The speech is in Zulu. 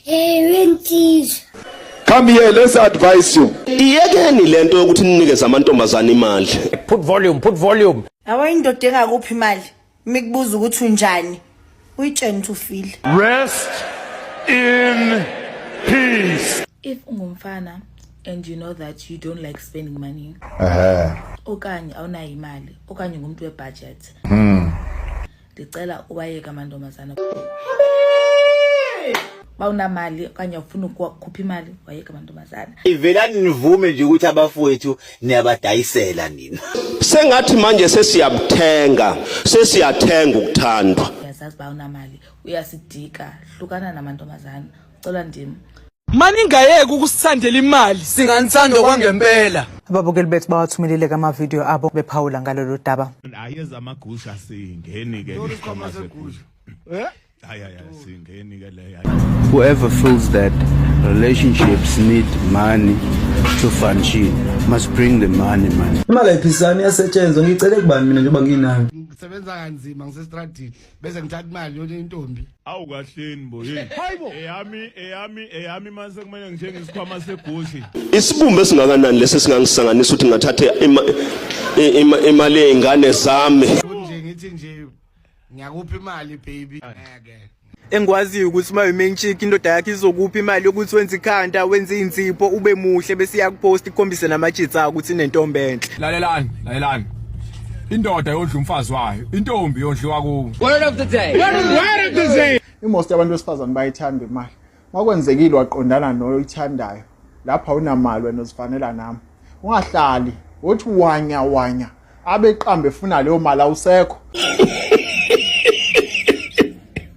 Ewe nsizwa. Come here, let's advise you. Iyekeni lento yokuthi ninikeze amantombazana imali. Put volume, put volume. Awa indoda engakuphi imali? Mikubuza ukuthi unjani? Uyitsheni to feel. Rest in peace. If ungumfana and you know that you don't like spending money. Eh. Okanye awunayo imali, okanye ngumuntu we budget. Hmm. ndicela ubayeka amantombazana uba unamali okanye ufuna ukukhupha imali wayeka amantombazana ivelani nivume nje ukuthi abafowethu niyabadayisela nina sengathi manje sesiyabuthenga sesiyathenga ukuthandwa uyazazi uba unamali uyasidika hlukana namantombazana cela ndim maningayeki ukusithandela imali singanithanda kwangempela ababukeli bethu bawathumelile kamavidiyo abo bephawula ngalolu daba ayeza amagusha singeni ke isikhwama segusha eh Whoever feels that relationships need money to function must bring the money man. Imali ayiphisani yasetshenzwa ngicele kubani mina njengoba nginayo. Ngisebenza kanzima ngisestradini. bese ngithatha imali yona intombi awu kahleni bo hey hayibo eyami eyami eyami mase kumele ngithenge isikhwama segushi isibumbe esingakanani lesi singangisanganisa ukuthi ngathathe imali yeingane zami nje ngithi nje ngiyakupha imali baby ngeke engikwaziyo ukuthi uma umain chick indoda yakhe izokupha imali yokuthi wenze ikhanda wenze insipho ube muhle bese iyakupost ikhombise namajitsi akho ukuthi inentombi enhle lalelani lalelani indoda yondla umfazi wayo intombi yondliwa kuwo word of the day word of the day imost abantu besifazane bayithanda imali makwenzekile waqondana noyithandayo lapha unamali wena uzifanela nami ungahlali wothi wanya wanya abeqambe efuna leyo mali awusekho